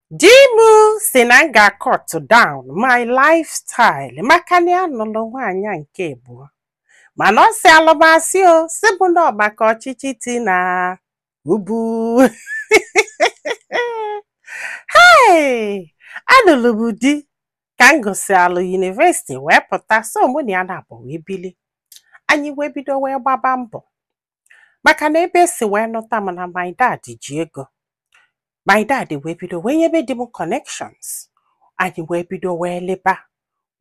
Di m si na m ga-cut down my lifestyle maka na ya nụlụ nwaanyị nke abụọ. Mana ọ sịalụ m asị o, sị mụ na ọ maka ọchịchị Tinubu. Hey! Anụrụ m di ka m gụsịalụ yunivesiti wee pụta so mụ na ya nabọ wee bili. Anyị wee bido wee gbaba mbọ. maka na ebe e si wee nụta m na my dad ji ego my dad wee bido wee nyebe di m connections anyị wee bido wee liba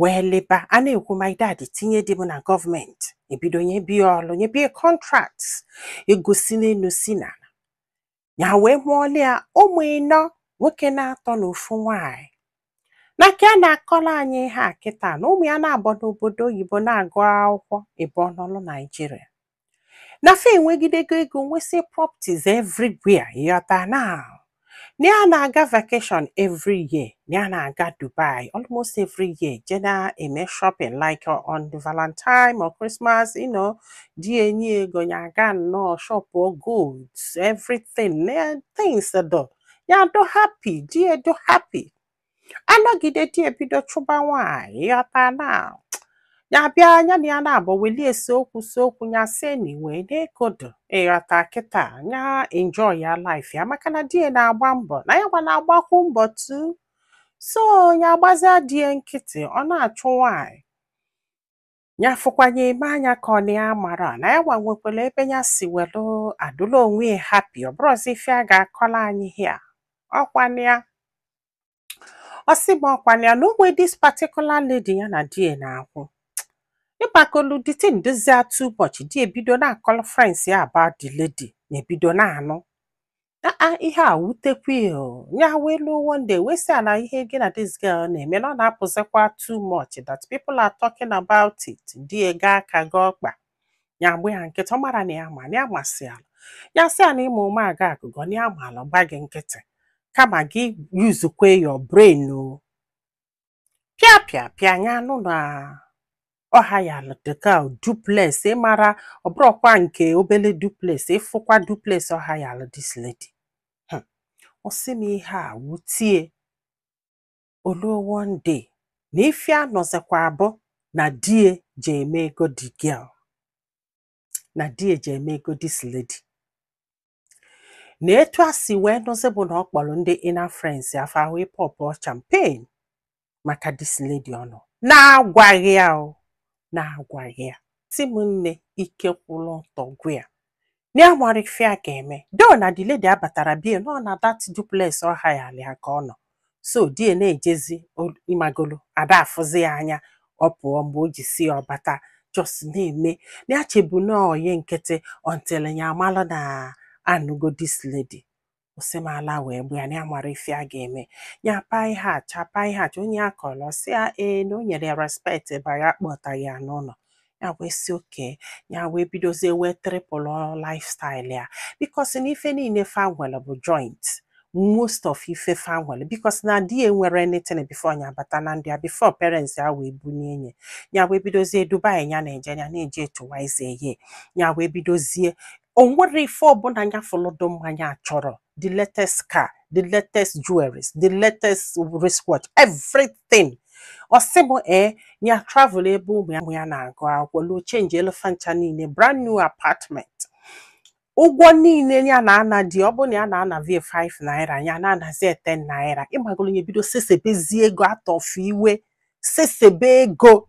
wee liba a na-ekwu my dad tinye di m na gọọmenti e bido nyebe ya ọlụ nyebe ya contracts ego si n'enu si n'ana ya wee mụọlụ ya ụmụ ịnọ nwoke naatọ na ofu nwaanyị na ka a na-akọlọ anyị ihe a kịta na ụmụ ya nabọ nọ obodo oyibo na-agụ akwụkwọ ịbụọ nọlụ naijiria na fa enwegidego ego nwesị properties everywhere ịghọta now na ya na-aga vacation every year ya na-aga Dubai almost every year je na-eme shopping like uh, on the Valentine or Christmas you know di ya enye ya ego ya aga nnọọ shop or goods everything things do ya do happy di ya do happy a nọgide di ya ebido chụba nwaanyị ịghọta na ya bịa ya na ya nabọ welie ese okwu se okwu ya sị anyway na ego do ịghọta kịta ya enjoy ya life ya maka na di ya na-agba mbọ na ya nwa na-agbakwu mbọ too so ya agbazia di ya nkịtị ọ na-achụ nwaanyị ya fụkwa ya eme anya ka ọ na ya amarọ na ya nwa nwekwalụ ebe ya si welu adụla onwe ya happy ọ bụrụzi ife a ga-akọlụ anyị here ọkwanụ ya ọ sị m ọkwanụ ya na o nwe this particular lady ya na di ya na-akwụ ịgbakolu the thing dozie too much di ya ebido na-akọrọ friends ya about the lady ya ebido na-anụ aa ihe a wutekwa ya o. ya wee luo one day wee sị ya na ihe gị na this girl na-eme na ọ na-apụzikwa too much that people are talking about it di ya gọọ aka gọọ ọkpa ya agba ya nkịtị ọ marọ na ya ma na ya masịalụ ya sị ya na ị ma ụma agọ agụgọ na ya malụ gba gị nkịtị kama gị use-kwe your brain o pịa pịa pịa nya anụ na ọ hire-lụ the girl duplex ị mara ọ bụrọkwa nke obele duplex ị fụkwa duplex ọ hire-lụ this lady ọ sị m ihe a wute ya o luo one day na ife a nụzikwa bụ na di ya jee mee ego the girl na di ya jee mee ego this lady na etu ya si wee nụzi bụ na ọ kpọrọ ndị inner friends ya fa wee popụọ champagne maka this lady ọ nụ na-agwaghị ya o na-agwaghị ya sị m nne ike kwụrụ ọtọ gwụ ya na ya mara ife a ga-eme though na the lady abatara bie nọ na that duplex ọ hayali ya ka ọ nọ so di ya na-ejezi o- ịmagolu ada afụzi ya anya ọ pụọ mgbe o ji sị ya ọ bata just na-eme na ya chebu na ọyị nkịtị until ya amalụ na anụgo this lady ọ sị m ala wee gbu ya na ya mara ife a ga-eme ya paa ihe acha paa ihe acha onye ọ kọrọ sị ya ee na o nyere ya respect ebe ya kpọtaghị ya n'ụlọ ya wee sị okay ya wee bidozie wee triple lifestyle ya because na ife niile fa nwere bụ joint most of ife fa nwere because na di ya enwerọ anything before nya bata na ndụ ya before parents ya wee bunye ye ya wee bidozie dubai ya na-eje ya na-eje etuwaize ye ya wee bidozie o nwerọ ife ọbụla nya fụlụ dị mma nya achọrọ the latest car the latest jewelries the latest wristwatch everything ọ sị m ee ya travel ebe ụmụ ya ụmụ ya na-agụ akwụkwọ luo chenjiele fa ncha niile brand new apartment ụgwọ niile ya na-ana di ọ bụrụ na ya na-anavu ya 5 naira ya na-anazi ya 10 naira ịmagoro ya bido sesebezi ego atọfu iwe sesebe ego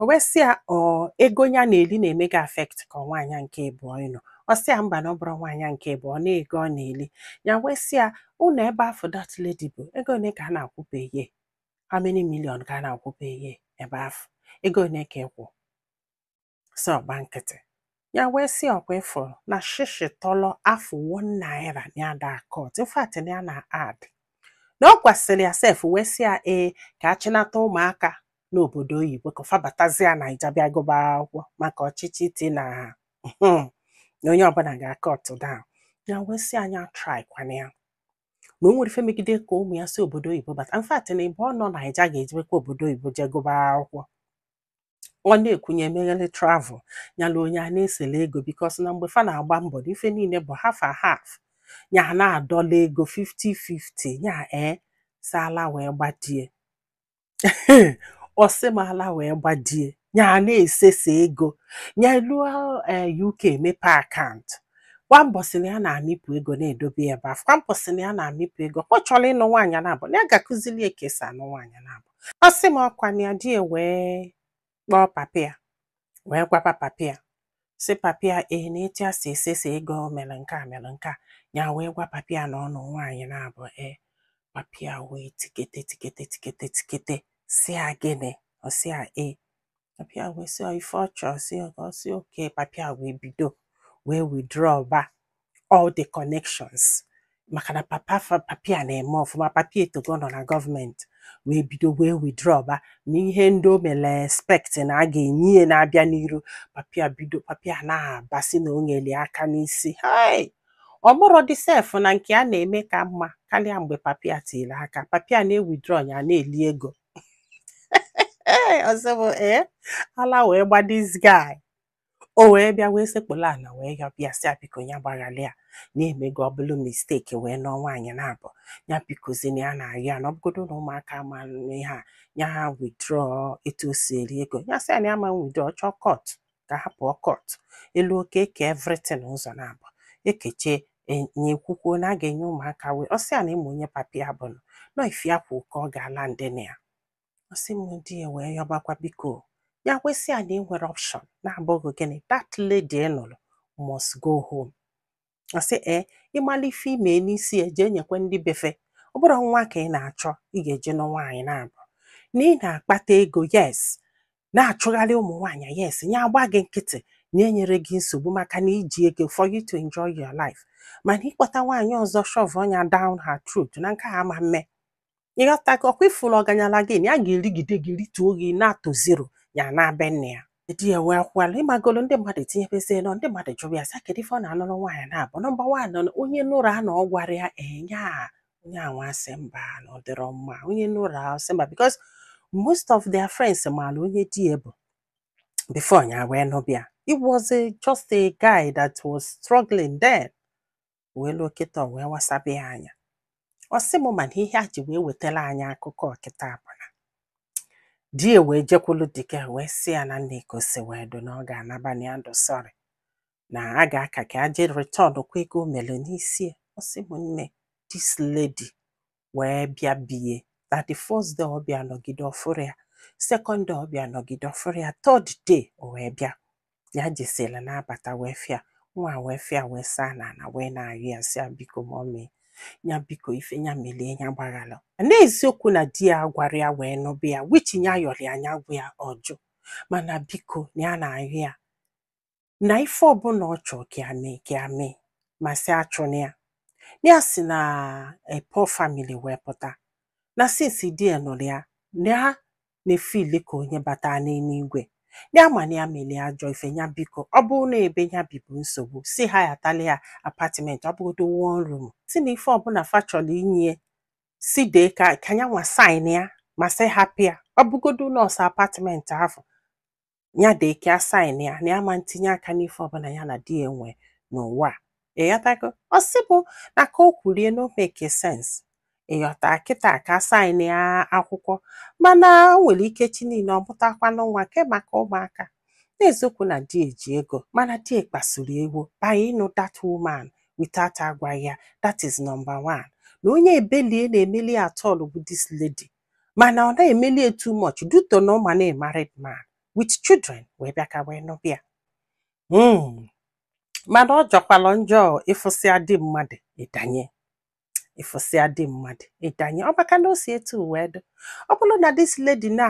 o wee sị ya ọ ego ya na-eli na-eme gị affect ka ọ nwaanyị a nke ịbụọ ị nụ ọ sị ya mba na ọ bụrọ nwaanyị a nke ịbụọ na ego ọ na-eli ya wee sị ya ụlọ ebe afụ that lady bụ ego ole ka a na-akwụ per year how many million ka a na-akwụ per year ebe afụ ego ole ka ị kwụ so ọ gba nkịtị ya wee sị ọkwa ị fụrụ na shishi tọlọ afụ one naira ya ada a-cut in fact ya na-add na ọ gwasịrị ya sef wee sị ya ee ka a chịnata ụmụaka n'obodo oyibo ka fa batazia naija bịa gụba akwụkwọ maka ọchịchị Tinubu na onye ọbụla ga a-cut down ya wee sị nya atrykwana ya na o nwerọ ife megide ka ụmụ ya si obodo oyibo bata in fact na ebe ọ nọ naija ga-ejebekwa obodo oyibo jee gụba akwụkwọ ọ na-ekwu nya emeghele travel nya eluo nya ana-esele ego because na mgbe fa na-agba mbọ na ife niile bụ half and half nya na-adọla ego 50-50 nya ee si ala wee gba di ya ọ sị m ala wee gba di ya nya na-esesa ego nya eluo ee eh, UK mepe akaụntụ kwa mbọsị na ya na-amịpụ ego na-edobe ebe afụ kwa mbọsị na ya na-amịpụ ego ọ chọrọ ịnụ nwaanyị naabọ na ya ga-akụzili ya ka esi anụ nwaanyị naabọ ọ sị m ọkwa na ya di ya wee kpọọ papa ya wee gwaba papa ya sị papa ya ee na etu ya si esesa ego o mere nke a mere nke a ya wee gwa papa ya na ọ nụ nwaanyị naabọ ee papa ya wee tikete tikete tikete tikete sị ya gịnị ọ sị ya ee papa ya wee sị ife ọ chọọ si ọ ka ọ sị okay papa ya wee bido wee withdraw ba all the connections maka na papa fa- papa ya na-eme ọfụma papa ya etogo nọ na gọọmenti wee bido wee withdraw ba na ihe ndị o mere expect na a ga-enye ya na-abịa n'iru papa ya bido papa ya na-aba si na o nyere ya aka n'isi hai ọ bụrụ dị sef na nke a na-eme ka mma karịa mgbe papa ya tiri aka papa ya na-ewithdraw ya na-eli ego ee ọzọ bụ ee ala wee gba this guy o wee bịa wee sekpụla ala wee yọba ya sị biko ya gbaghalị ya na-emego ọ bụlụ mistake wee nụọ nwaanyị naabọ ya bikozi na ya na-arịọ ya na ọ bụgodu na ụmụaka ma ihe a ya ha withdraw etu o si eri ego ya sị ya na ya ama withdraw ọ chọọ court ka ha pụọ court eluo oke ekee everything ụzọ naabọ ekecha enye ekwukwuo na a ga-enye ụmụaka wee ọ sị ya na ị ma onye papa ya bụ nụ na ọ ife ya kwu ka ọ ga-ala ndị na ya ọ sị m di ya wee yọbakwa biko ya wee sị ya na enwerọ option na-abụghị gịnị that lady ị nụrụ must go home ọ sị ee ị mala ife i mee n'isi ya jee nyekwa ndị be fa ọ bụrụ nwa ka ị na-achọ ị ga-eje nụ nwaanyị naabọ na ị na-akpata ego yes na-achụgharị ụmụ nwaanyị yes nya agba gị nkịtị nya enyerọ gị nsogbu maka na i ji ego for you to enjoy your life mana ịkpọta nwaanyị ọzọ shove nya down her throat na nke a ama mme ị ghọtago ọ kwa ị fụrụ ọganyala gị na ya ga-erigide gị rituo gị ana to zero ya naa be nna ya di ya wee kwala ị magolo ndị mmadụ etinyebezie ọnụ ndị mmadụ jụrụ ya sị kedu ife ọ na-anụrụ nwaanyị naabọ number one onye nụrụ a na ọ gwara ya nya onye anwa asị mba na ọ dịrọ mma onye nụrụ a sị mba because most of their friends maara onye di ya bụ before ya wee nụba ya it was a, just a guy that was struggling then wee luo kịta ọ wee wasabe ya anya ọ sị m mana ihe ya ji wee wetara anyị akụkọ a kịta bụ na di ya wee jekwulu the girl wee sị ya na nne ka o si wee dụ na ọ ga-anaba na ya dụ sorry na a ga-aka ka aje return kwa ego o mere n'isi ya ọ sị m nne this lady wee bịa be ya that the first day ọ bịa nọgide ọ fụrọ ya second day ọ bịa nọgide ọ fụrọ ya third day o wee bịa ya jesila na-abata wee fụ ya nwa a wee fụ ya wee saa na ana wee na-arịọ ya sị ya biko mummy ya biko ife ya melie ya gbaghalụ n'eziokwu na di ya agwarọ ya wee nụba ya which ya yọrọ ya nya gwa ya ọ jụ mana biko na ya na-arịọ ya na ife ọbụla ọ chọọ ka ya mee ka ya mee ma sị achụna ya na ya si na a poor family wee pụta na since di ya nụrụ ya na ya na-efili ka onye bata n'eluigwe ya ma na ya mere ya ajọ ife ya biko ọ bụrụ na ebe ya bi bụ nsogbu sị hayatala ya apartment ọ bụgodo one room sị na ife ọbụla fa chọrọ inye sị dee ka ka ya nwa sign ya ma sị hapụ ya ọ bụgodo nọọsụ apartment ahụ ya dee ka a sign ya na ya ma ntinye aka n'ife ọbụla ya na di ya nwe n'ụwa ịghọtago ọ sị bụ na ka o kwuru ya na o make sense ị ghọta kịta ka a sign ya akwụkwọ mana o nwere ike echi niile ọ mụtakwanụ nwa kee maka ụmụaka n'eziokwu na di ya ji ego mana di ya kpasuru ewu by ịnụ that woman without agwaghị ya that is number one na onye ebele ya na-emeli at all bụ this lady mana ọ na-emeli ya too much due to na ọ ma na married man with children wee bịa ka wee nụba ya Mm. mana ọ jọkwalụ njọ ị fụsịa di mmadụ ị danye ị fụsịa di mmadụ ị danye ọ maka na o si etu wee dị ọ bụrụ na this lady na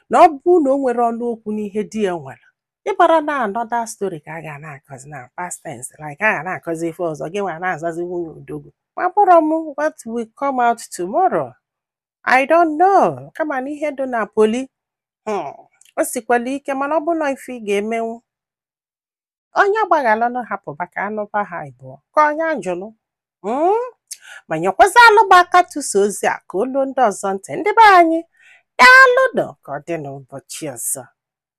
na ọ bụ na o nwere ọnụ okwu n'ihe di ya nwere ị mara na another story ka a ga na-akọzi na past tense like a ga na-akọzi ife ọzọ gị nwa na-azazi nwunye odogwu makwarọ m what will come out tomorrow I don't know kama na ihe dị na poly hmm, o sikwala ike mana ọ bụ na ife ị ga-emenwu onye agbaghalụnụ hapụ maka a nụba ha ịbụọ ka onye a jụlụ hmm? ma nyekwazi alụba aka tụsa ozi a ka o luo ndị ọzọ ntị ndị be anyị daalụnụ ka ọ dị n'ụbọchị ọzọ